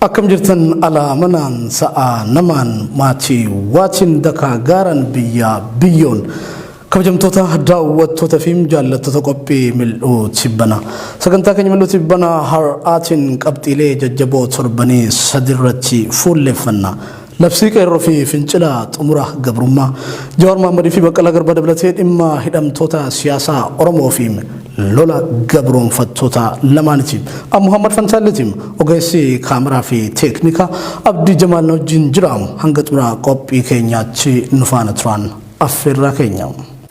Akkam jirtan alaa manaan sa'aa namaan maatii waatiin dakaa gaaraan biyyaa biyyoon kabajamtoota daawwattoota fi jaallattoota qophii mil'uu tibbana sagantaa keenya mil'uu tibbana har'aatiin qabxiilee jajjaboo torbanii sadirratti fuulleffanna Labsii Qeerroo fi Fincila Xumura Gabrummaa. Jawaar Mohaammadii fi Baqqalaa Garbaa dabalatee dhimma hidhamtoota siyaasaa Oromoo fi lola gabroomfattoota lamaaniti. An Muhammad Fantaalleeti. Ogeessi kaameraa fi teeknika Abdii Jamaal na wajjin jira. Hanga xumura qophii keenyaatti nu faana turaan affeerraa keenya.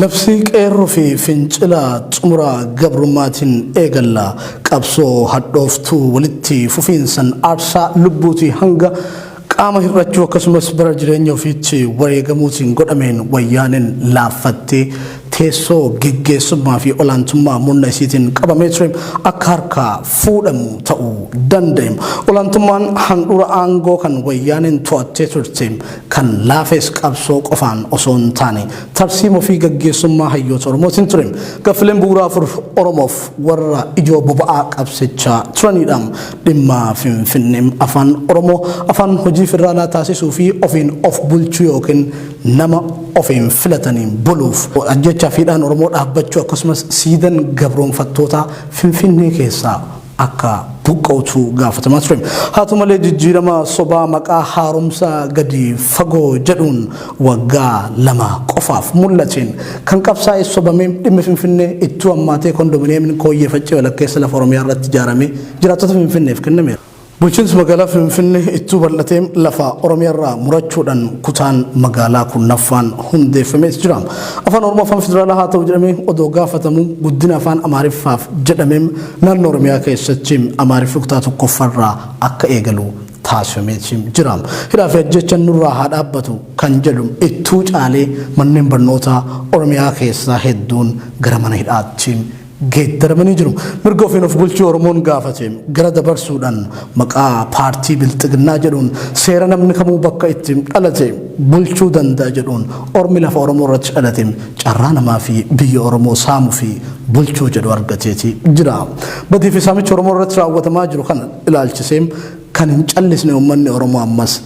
Labsii Qeerroo fi Fincila Xumura Gabrummaatiin eegalla. Qabsoo hadhooftuu walitti fufiinsan aarsaa lubbuutii hanga qaama hir'achuu akkasumas bara jireenya ofiitti wareegamuutiin godhameen Wayyaaneen laaffattee teessoo geggeessummaa fi olaantummaa murna isiitiin qabamee ture akka harkaa fuudhamu ta'uu danda'e. Olaantummaan handhuura aangoo kan Wayyaaneen to'attee turte kan laafes qabsoo qofaan osoo hin taane tarsiimoo fi gaggeessummaa hayyoota Oromootiin ture. Gaffileen bu'uuraa afur Oromoof warra ijoo boba'aa qabsichaa turanidha. Dhimma Finfinnee afaan Oromoo afaan hojii federaalaa taasisuu fi ofiin of bulchuu yookiin nama ofiin filataniin buluuf ajjechaa fi hidhaan Oromoo dhaabbachuu akkasumas siidan gabroonfattootaa Finfinnee keessaa akka buqqa'utu gaafatamaa ture. Haa ta'u malee jijjiirama sobaa maqaa haaromsa gadi fagoo jedhuun waggaa lama qofaaf mul'ateen kan qabsaa'e sobamee dhimmi Finfinnee ittuu ammaatee kondominiyeemiin kooyyee faccee walakkeessa lafa Oromiyaa irratti ijaaramee jiraattota Finfinneef kennameera. Bulchiinsi magaalaa Finfinnee ittuu bal'atee lafa Oromiyaa irraa murachuudhaan kutaan magaalaa kurnaffaan hundeeffamees jira. Afaan Oromoo afaan federaalaa haa ta'u jedhamee odoo gaafatamu guddina afaan Amaariffaaf jedhamee Naannoo Oromiyaa keessatti Amaariffi kutaa tokkoffarraa akka eegalu taasifameeti jira. Hidhaa fi ajjeechan nurraa haa dhaabbatu kan jedhu ittuu caalee manneen barnootaa Oromiyaa keessaa hedduun gara mana hidhaatti geeddaramanii jiru. Mirga ofiin of bulchuu Oromoon gaafate gara dabarsuudhaan maqaa paartii bilxiginnaa jedhuun seera namni kamuu bakka itti dhalate bulchuu danda'a jedhuun ormi lafa Oromoo irratti dhalate Carraa namaa fi biyya Oromoo saamuu fi bulchuu jedhu argateeti jira. Badii fi saamicha Oromoo irratti raawwatamaa jiru kana ilaalchisee kan hin callisne uummanni Oromoo ammas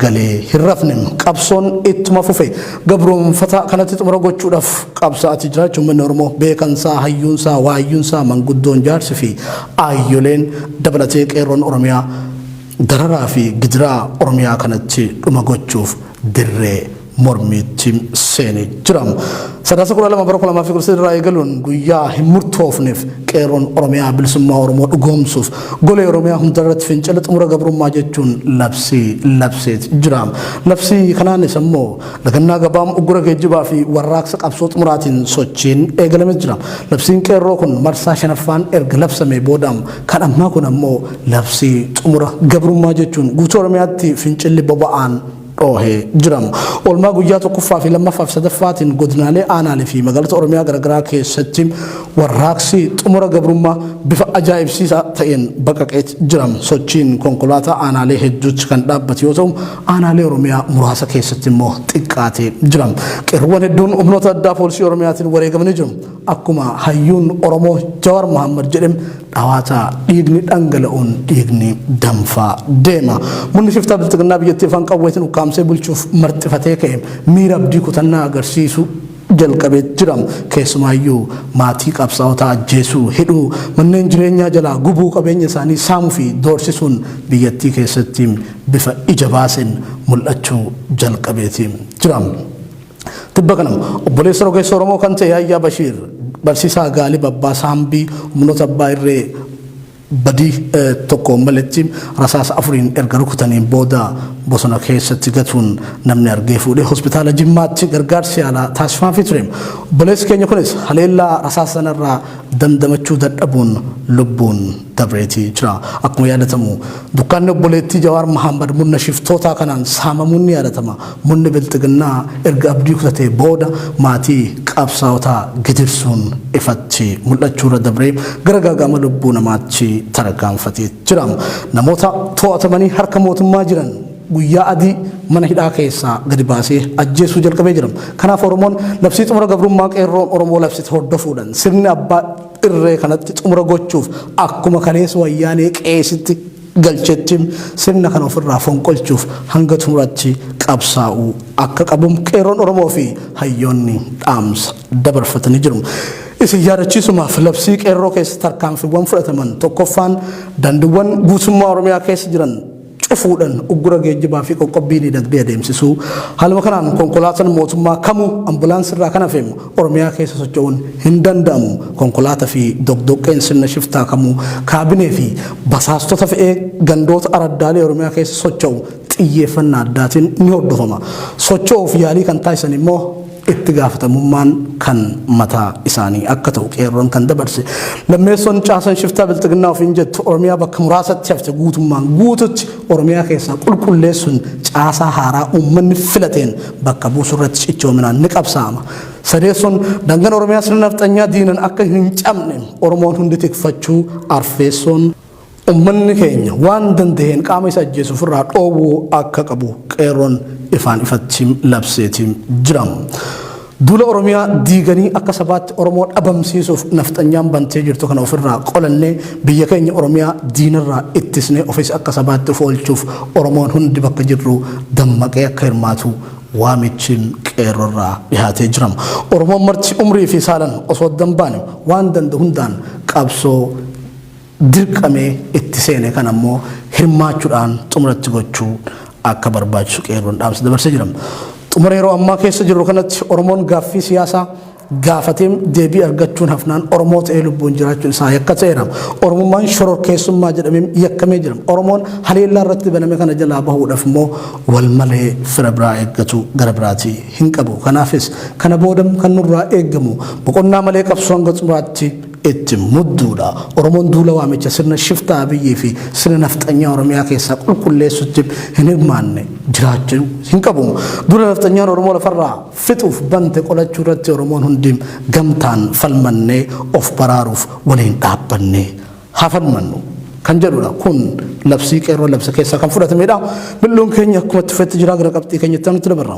galee hin rafne. Qabsoon ittuma fufe. Gabroomfataa kanatti xumura gochuudhaaf qabsaa'atii jiraachuu uummanni Oromoo beekansaa, hayyuunsaa, waayyuunsaa, manguddoon, jaarsi fi aayyoleen dabalatee qeerroon Oromiyaa Dararaa fi gidiraa Oromiyaa kanatti dhuma gochuuf dirree mormiitti seenee jira. Sadaasa 12 bara 2013 irraa eegaluun guyyaa hin murtoofneef qeerroon Oromiyaa bilisummaa Oromoo dhugoomsuuf golee Oromiyaa hundarratti fincila xumura gabrummaa jechuun labsii labseet jira. Labsii kanaanis ammoo lagannaa gabaam uggura geejjibaa fi warraaqsa qabsoo xumuraatiin sochiin eegalamee jira. Labsiin qeerroo kun marsaa shanaffaan erga labsamee booda Kan ammaa kun ammoo labsii xumura gabrummaa jechuun guutuu Oromiyaatti fincilli boba'aan dhoohee jira. Oolmaa guyyaa tokkoffaa fi lammaffaa fi sadaffaatiin godinaalee aanaalee fi magaalota Oromiyaa garaagaraa keessatti warraaqsi xumura gabrummaa bifa ajaa'ibsiisaa ta'een baqaqeet jira. Sochiin konkolaataa aanaalee hedduutti kan dhaabbate yoo ta'u, aanaalee Oromiyaa muraasa keessatti immoo xiqqaatee jira. Qeerroowwan hedduun humnoota addaa poolisii Oromiyaatiin wareegamanii jiru. Akkuma hayyuun Oromoo Jawar Mohammed jedhe dhawaata dhiigni dhangala'uun dhiigni danfaa deema. Murni shiftaa bilxiginnaa biyyattii afaan qawweetiin ukkaamsee bulchuuf marxifatee ka'e miira abdii kutannaa agarsiisu jalqabee jira. Keessumaayyuu maatii qabsaa'otaa ajjeesuu, hidhuu, manneen jireenyaa jalaa gubuu, qabeenya isaanii saamuu fi doorsisuun biyyattii keessatti bifa ija baaseen mul'achuu jalqabeeti jira. Tibba kana obboleessa rogeessa Oromoo kan ta'e Yahyaa Bashiir barsiisaa Gaalib Abbaa Saambii humnoota abbaa irree badii tokko maletti rasaasa afuriin erga rukutaniin booda bosona keessatti gatuun namni argee fuudhee hospitaala Jimmaatti gargaarsi yaalaa taasifaafii ture. Obboleessi keenya kunis haleellaa rasaasa sanarraa dandamachuu dadhabuun lubbuun dabreeti jira. Akkuma yaadatamu dukkaanni obboleettii Jawaar Mahaammad murna shiftootaa kanaan saamamuun ni yaadatama. Murni Bilxiginnaa erga abdii kutatee booda maatii qabsaa'otaa gidirsuun ifatti mul'achuurra dabree gara gaaga'ama lubbuu namaatti tarkaanfatee jira. Namoota to'atamanii harka mootummaa jiran guyyaa adii mana hidhaa keessaa gadi baasee ajjeesuu jalqabee jira. Kanaaf Oromoon labsii xumura gabrummaa qeerroon Oromoo labsite hordofuudhaan sirni abbaa irree kanatti xumura gochuuf akkuma kaleessa wayyaanee qeesitti galchetti sirna kana ofirraa fonqolchuuf hanga xumuratti qabsaa'uu akka qabu qeerroon Oromoo fi hayyoonni dhaamsa dabarfatanii jiru. Isin yaadachiisumaaf labsii qeerroo keessa tarkaanfiiwwan fudhataman tokkoffaan daandiiwwan guutummaa Oromiyaa keessa jiran cufuudhan uggura geejjibaa fi qoqqobbii diinagdee adeemsisuu. Haaluma kanaan konkolaatan mootummaa kamuu ambulaansii irraa kan hafe Oromiyaa keessa socho'uun hin danda'amu. Konkolaata fi doqdoqqeen sirna shiftaa kamuu kaabinee fi basaastota fe'ee gandoota araddaalee Oromiyaa keessa socho'u xiyyeeffannaa addaatiin ni hordofama. Socho'uuf yaalii kan taasisan immoo. itti gaafatamummaan kan mataa isaanii akka ta'u qeerroon kan dabarse. Lammeessoon caasan shiftaa bilxiginnaa ofiin jettu Oromiyaa bakka muraasatti hafte guutummaan guututti Oromiyaa keessaa qulqulleessuun caasaa haaraa uummanni filateen bakka buusu irratti cichoominaan ni qabsaa'ama. Sadeessoon dangan Oromiyaa sirna nafxanyaa diinan akka hin cabne Oromoon hundi tikfachuu arfeessoon Ummanni keenya waan danda'een qaama isa ajjeesu ofirraa dhoowwuu akka qabu Qeerroon ifaan ifatti labseeti jira. Duula Oromiyaa diiganii akka sabaatti Oromoo dhabamsiisuuf nafxanyaan bantee jirtu kana ofirraa qolannee biyya keenya Oromiyaa diinarraa ittisnee ofis akka sabaatti of oolchuuf Oromoon hundi bakka jirru dammaqee akka hirmaatu waamichi Qeerrorraa dhihaatee jira. Oromoon marti umrii fi saalan osoo adda hin baane waan danda'u hundaan qabsoo dirqamee itti seene kana immoo hirmaachuudhaan xumura itti gochuu akka barbaachisu qeerroon dhaamsa dabarsee jira. Xumura yeroo ammaa keessa jirru kanatti Oromoon gaaffii siyaasaa gaafatee deebii argachuun hafnaan Oromoo ta'ee lubbuun jiraachuun isaa yakka ta'eera. Oromummaan shororkeessummaa jedhamee yakkamee jira. Oromoon haleellaa irratti baname kana jalaa bahuudhaaf immoo wal malee fira biraa eeggatu gara biraatii hin qabu. Kanaafis kana booda kan nurraa eegamu boqonnaa malee qabsoo hanga xumuraatti itti mudduudha. Oromoon duula waamicha sirna shiftaa Abiyyii fi sirna nafxanyaa Oromiyaa keessaa qulqulleessutti hin hirmaanne jiraachuu hin qabu. Duula nafxanyaan Oromoo lafarraa fixuuf bante qolachuu irratti Oromoon hundi gamtaan falmannee of baraaruuf waliin dhaabbannee haa falmannu kan jedhudha. Kun labsii qeerroon labse keessaa kan fudhatameedha. Mil'uun keenya akkuma itti fufetti jira gara qabxii keenya itti aanutti dabarra.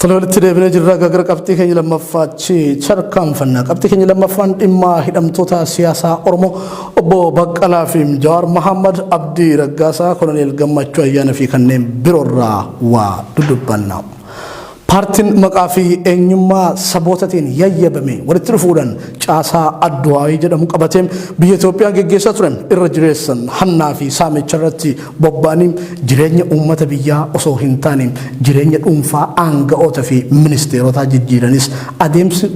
Tole walitti deebinee jirra gara qabxii keenya lammaffaatti tarkaanfanna. Qabxii keenya lammaffaan dhimma hidhamtoota siyaasaa Oromoo obbo Baqqalaa fi Jawaar Mahammad Abdii Raggaasaa Koloneel Gammachuu Ayyaanaa fi kanneen biroorraa waa dudubbanna. Paartiin maqaa fi eenyummaa sabootatiin yayyabame walitti dhufuudhaan caasaa Adduwaayii jedhamu qabatee biyya Itoophiyaa geggeessaa ture irra jireessan hannaa fi saamicha irratti Bobbaan jireenya uummata biyyaa osoo hin taane jireenya dhuunfaa aanga'oota fi ministeerotaa jijjiiranis adeemsi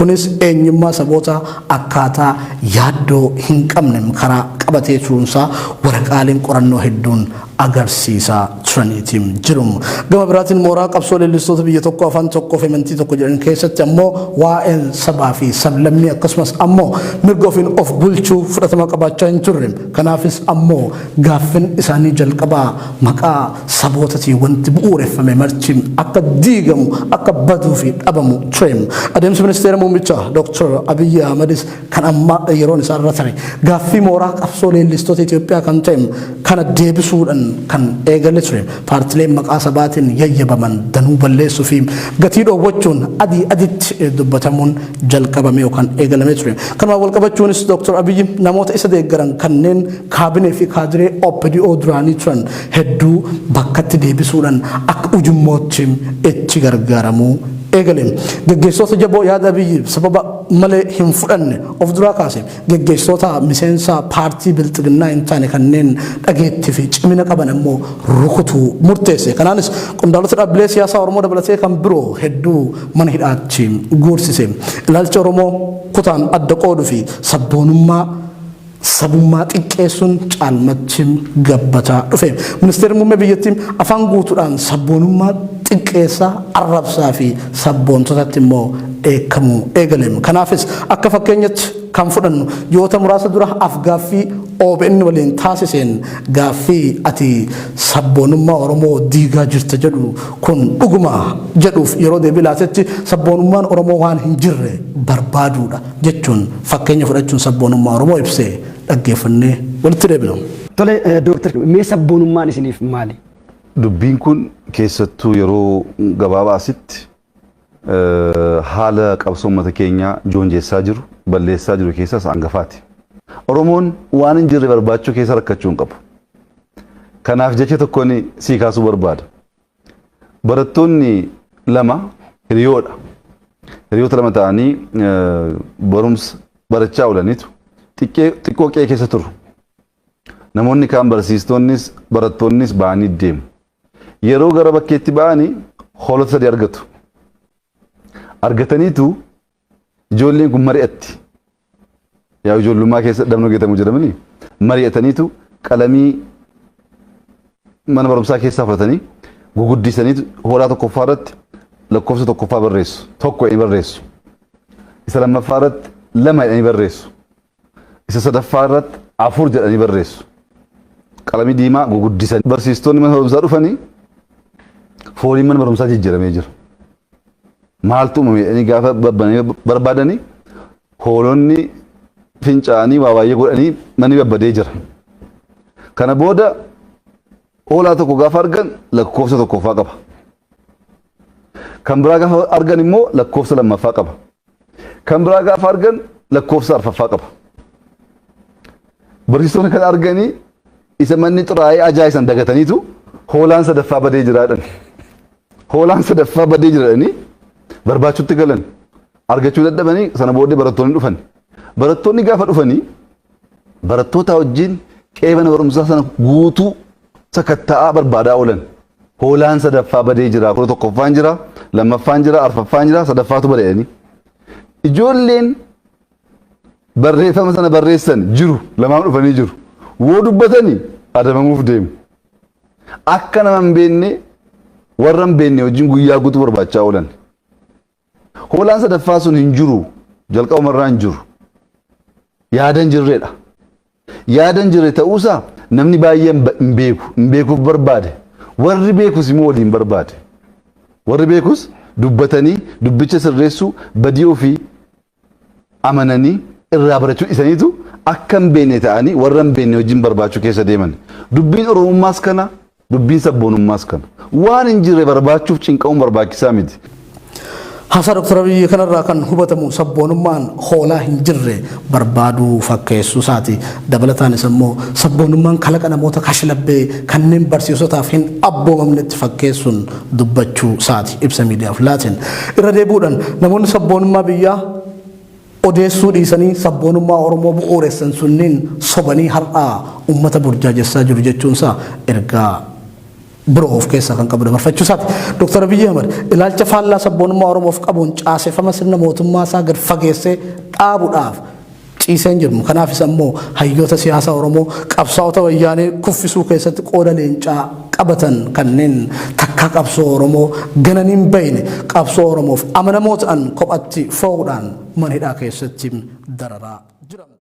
kunis eenyummaa sabootaa akkaataa yaaddoo hin qabnem karaa qabatee turuunsaa waraqaaleen qorannoo hedduun agarsiisaa turaniiti jiru. Gama biraatiin mooraa qabsoo leellistoota biyya tokko afaan tokkoo fi amantii tokko jedhan keessatti ammoo waa'een sabaa fi sablammii akkasumas ammoo mirga ofiin of bulchuu fudhatama qabaachaa hin turre. Kanaafis ammoo Gaaffin isaanii jalqabaa maqaa sabootatiin wanti bu'uureffame marti akka diigamu, akka baduu fi dhabamu ture. Adeemsi Ministeera Muummicha Dr. Abiyyi Ahmadis kan ammaa yeroon isaa irra tare. Gaaffii mooraa qabsoo leellistoota Itoophiyaa kan ta'e kana deebisuudhan kan eegale ture. Paartileen maqaa sabaatiin yayyabaman danuu balleessuu fi gatii dhoowwachuun adii aditti dubbatamuun jalqabame yookaan eegalame ture. Kanumaan walqabachuunis Dr. Abiyyi namoota isa deeggaran kanneen Kaabinee fi kaadiree OPDO duraanii turan hedduu bakkatti deebisuudhaan akka ujummootti itti gargaaramuu eegale. Geggeessitoota jaboo yaada Abiyyi sababa malee hin fudhanne of duraa kaase. Geggeessitoota miseensa paartii Bilxiginnaa hin taane kanneen dhageettii fi cimina qaban ammoo rukutuu murteesse. Kanaanis qondaalota dhaabbilee siyaasaa Oromoo dabalatee kan biroo hedduu mana hidhaatti guursise. Ilaalcha Oromoo kutaan adda qooduu fi sabboonummaa sabummaa xiqqeessuun caalmatti gabbataa dhufe. Ministeerri muummee biyyattii afaan guutuudhaan sabboonummaa xiqqeessa, arrabsaa fi sabboontotatti immoo dheekkamuu eegale. Kanaafis akka fakkeenyatti kan fudhannu ji'oota muraasa dura afgaaffii OBN waliin taasiseen gaaffii ati sabboonummaa Oromoo diigaa jirta jedhu kun dhuguma jedhuuf yeroo deebii laatetti sabboonummaan Oromoo waan hin jirre barbaaduudha. jechuun fakkeenya fudhachuun sabboonummaa Oromoo ibse dhaggeeffannee walitti deebina. Tole Dooktar, mee sabboonummaan isiniif maali? Dubbiin kun keessattuu yeroo gabaabaa asitti haala qabsoo uummata keenyaa joonjessaa jiru, balleessaa jiru keessaa isa hangafaati. Oromoon waan hin jirre barbaachuu keessa rakkachuu hin qabu. Kanaaf jecha tokkoon sii kaasuu barbaada. Barattoonni lama hiriyoodha. Hiriyoota lama ta'anii barumsa barachaa oolaniitu xiqqoo qe'ee keessa turu. Namoonni kaan barsiistoonnis barattoonnis ba'anii deemu. Yeroo gara bakkeetti ba'anii hoolota sadii argatu. Argataniitu Ijoolleen kun mari'atti. Yaa ijoollummaa keessa dhabnoo geetamu jedhamanii mari'ataniitu qalamii mana barumsaa keessaa fudhatanii guguddisaniitu hooraa tokkoffaa irratti lakkoofsa tokkoffaa barreessu. Tokko jedhanii barreessu. Isa lammaffaa irratti lama jedhanii barreessu. Isa sadaffaa irratti afur jedhanii barreessu. Qalamii diimaa guguddisan. Barsiistonni mana barumsaa dhufanii fooliin mana barumsaa jijjiiramee jira. Maaltu uumame jedhanii gaafa babbananii barbaadanii hoolonni fincaanii waa baay'ee godhanii manni babbadee jira. Kana booda hoolaa tokko gaafa argan lakkoofsa tokkoffaa qaba. Kan biraa gaafa argan immoo lakkoofsa lammaffaa qaba. Kan biraa gaafa argan lakkoofsa arfaffaa qaba. Barsiisonni kan arganii isa manni xuraa'ee ajaa'isan dagataniitu hoolaan sadaffaa badee jiraadhan. Hoolaan sadaffaa badee jiraadhanii barbaachuutti galan. Argachuu dadhabanii sana booddee barattoonni dhufan. Barattoonni gaafa dhufanii barattoota wajjin qe'ee mana barumsaa sana guutuu sakatta'aa barbaadaa oolan. Hoolaan sadaffaa badee jira, kudha tokkoffaan jira, lammaffaan jira, arfaffaan jira, sadaffaatu bada jedhanii. Ijoolleen barreeffama sana barreessan jiru, lamaan dhufanii jiru. Woo dubbatanii adabamuuf deemu. Akka nama hin beekne warra hin beekne wajjin guyyaa guutuu barbaachaa oolan. Hoolaan sadaffaa sun hin jiru. Jalqabuma irraa hin jiru. Yaada hin jirredha. Yaada hin jirre ta'uusaa namni baay'een hin beeku. Hin beekuuf barbaade. Warri beekus immoo waliin barbaade. Warri beekus dubbatanii dubbicha sirreessuu badii ofii amananii irraa barachuu dhisaniitu akka hin beekne ta'anii warra hin beekne wajjin barbaachuu keessa deeman. Dubbiin Oromummaas kana, dubbiin sabboonummaas kana. Waan hin jirre barbaachuuf cinqamuun barbaachisaa miti. Haasaa Dr. Abiyyi kanarraa kan hubatamu sabboonummaan hoolaa hin jirre barbaaduu fakkeessuu isaati. Dabalataanis ammoo sabboonummaan kalaqa namoota kashlabbee kanneen barsiisotaaf hin abboomamnetti fakkeessuun dubbachuu saati ibsa miidiyaaf laateen. Irra deebi'uudhan namoonni sabboonummaa biyyaa odeessuu dhiisanii sabboonummaa Oromoo bu'uuressan sunniin sobanii har'aa ummata burjaajessaa jiru jechuun isaa ergaa biroo of keessaa kan qabu dabarfachuu isaati. Dr. Abiyyi Ahmad ilaalcha faallaa sabboonummaa Oromoof qabuun caasefama sirna mootummaa isaa gad fageessee dhaabuudhaaf ciisee hin jirmu. Kanaafis ammoo hayyoota siyaasaa Oromoo qabsaa'ota wayyaanee kuffisuu keessatti qooda leencaa qabatan kanneen takkaa qabsoo Oromoo gananii hin bayne qabsoo Oromoof amanamoo ta'an kophatti foo'uudhaan mana hidhaa keessatti dararaa jiran.